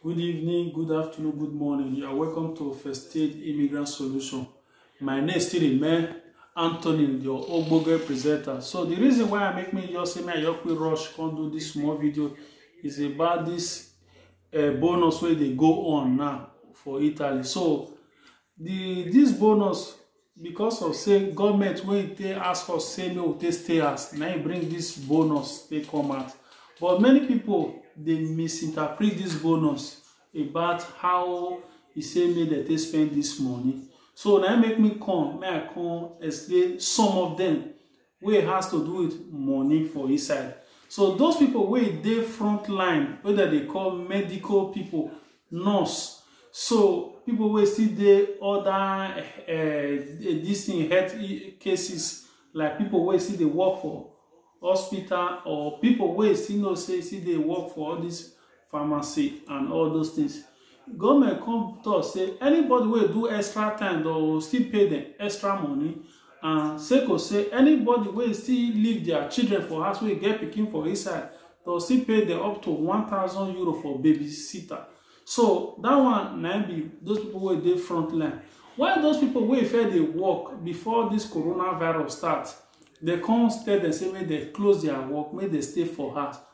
Good evening, good afternoon, good morning. You are welcome to First Aid Immigrant Solution. My name is still remain Anthony, your Ogboge presenter. So the reason why I make me just say me I just quick rush come do this small video is about this uh, bonus wey dey go on now for Italy. So the this bonus Because of say government wey e take ask us say make we take stay house na im bring this bonus take come out but many people dey misinterpret this bonus about how e say make dem take spend this money so na im make me come make I come explain some of them wey has to do with money for inside so those people wey dey front line wey dem dey call medical people nurse so people wey still dey other uh, this thing health cases like people wey still dey work for hospital or people wey still know say still dey work for all this pharmacy and all those things government come talk say anybody wey do extra time they go still pay them extra money and seko say anybody wey still leave their children for house wey get pikin for inside they go still pay them up to one thousand euro for babysitter so that one na im be those people wey dey front line while those people wey fair dey work before this coronavirus start they come tell them say make they close their work make they stay for house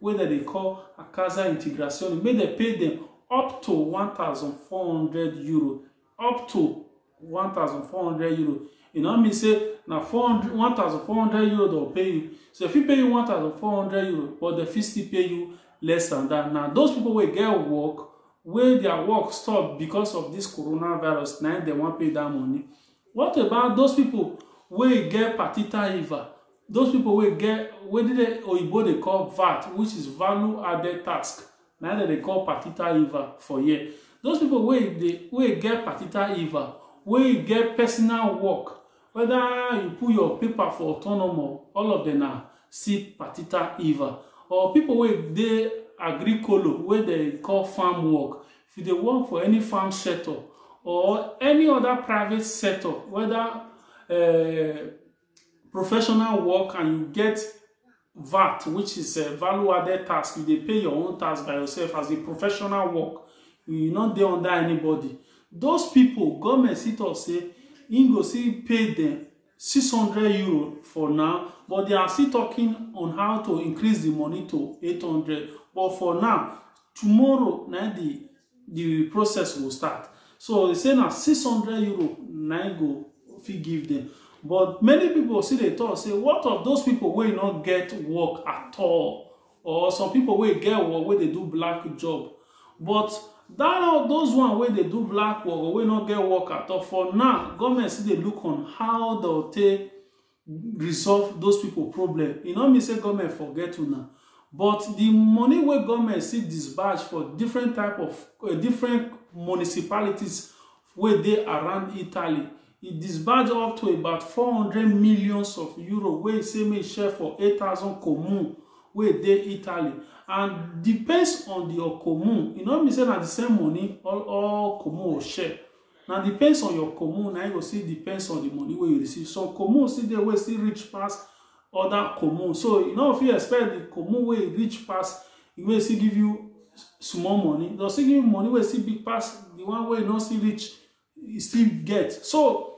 wey dem dey call a casa integrazione make dem pay dem up to one thousand four hundred euro up to one thousand four hundred euro e no mean say na four hundred one thousand four hundred euro dem pay you so dem fit pay you one thousand four hundred euro but dem fit still pay you less than that na those people wey get work wey their work stop because of this coronavirus na im dem wan pay that money what about those people wey get partita iva those people wey get wetin dey oyibo dey call vat which is value added tax na dem dey call patita iva for here those people wey dey wey get patita iva wey get personal work whether you put your paper for autonomo all of them na still patita iva or people wey dey agricolo wey dey call farm work if you dey work for any farm sector or any other private sector whether uh, professional work and you get VAT, which is a value added tax, you dey pay your own tax by yourself as a professional work. You no dey under anybody. Those people, government still talk say im go still pay them 600 euro for now, but they are still talking on how to increase the money to 800. But for now, tomorrow na the the process will start so they say na 600 euro na im go fit give them but many people still dey talk say what of those people wey no get work at all or some people wey get work wey dey do black job but that those one wey dey do black work or wey no get work at all for now government still dey look on how dem take resolve those people problem e no mean say government forget una but the money wey government still disburse for different type of uh, different municipalities wey dey around italy e disburse up to about 400 millions of euro wey e say make e share for 8000 commune wey dey italy and depends on the commune e no mean say na the same money all all commune go share na depends on your commune na you go see depends on the money wey you receive some commune still dey wey still reach pass other commune so you no fit expect the commune wey reach pass the wey still give you small money dem still give you money wey still big pass the one wey no still reach you still get so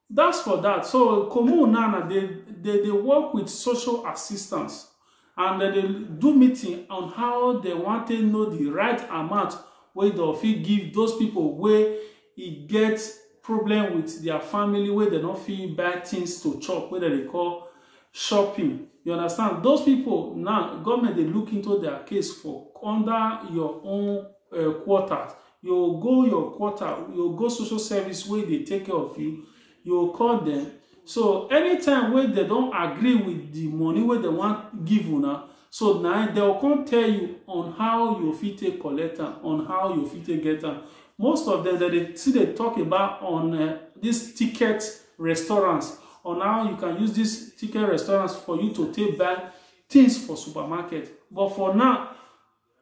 That's for that. So Komu Nana, they, they, they work with social assistance and they do meeting on how they want to know the right amount wey dem fit give those people wey e get problem with their family wey dem no fit buy things to chop wey dem dey call shopping you understand those people now government dey look into their case for under your own uh, quarters You go go your quarter, you go go social service wey dey take care of you, you go call dem. So anytime wey dem don agree with the money wey dem wan give una, so na dem go come tell you on how you fit take collect am, on how you fit take get am. Most of them, dem dey still dey talk about on uh, this ticket restaurants, on how you can use this ticket restaurants for you to take buy things for supermarket. But for now,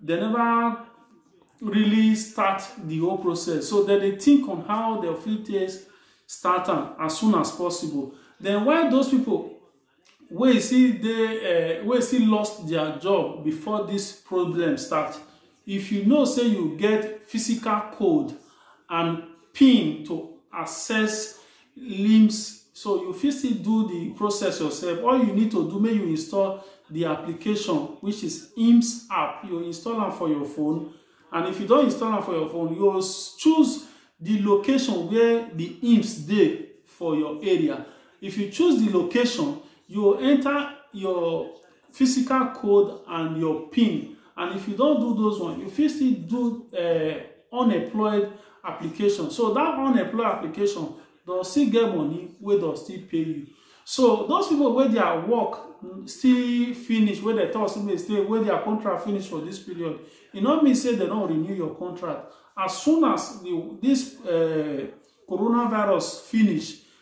They never really start the whole process. So then they think on how their field takes start am as soon as possible. Then why those people wey see dey uh, wey see lost their job before this problem start if you know say you get physical code and pin to access limbs so you fit still do the process yourself all you need to do make you install the application which is IMS app you install am for your phone and if you don install am for your phone you go choose the location where the IMS dey for your area if you choose the location you go enter your physical code and your pin and if you don't do those one you fit still do uh, unemployed application so that unemployed application don still get money wey don still pay you so those people wey their work still finish wey dem talk say make stay wey their contract finish for this period e no mean say dem don renew your contract as soon as the, this uh, coronavirus finish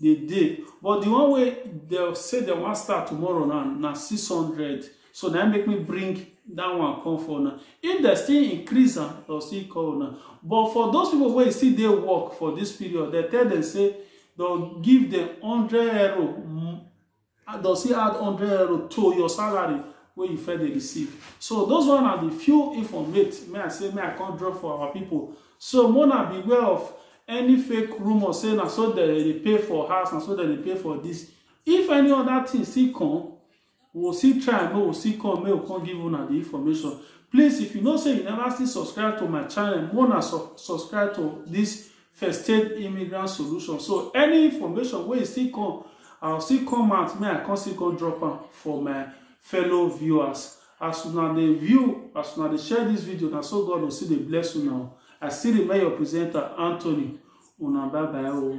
dey dey but the one wey dem say dem wan start tomorrow now na six hundred so na make me bring that one come for una if dem still increase am dem still call una but for those people wey still dey work for this period dem tell dem say dem give dem hundred euro and does he add 100 euro to your salary wey you first dey receive so those one are the few informate may i say may i come drop for our people so mona beware of any fake rumor say na so dem dey pay for house na so dem dey pay for this if any other thing still come we will still try and we will still come make we come give una the information please if you know say you never still subscribe to my channel mona su subscribe to this first aid immigrant solution so any information wey still come i still come out make i come still come drop am for my fellow viewers as una dey view as una dey share this video na so god go still dey bless una i still remain your presenter anthony una bye bye o.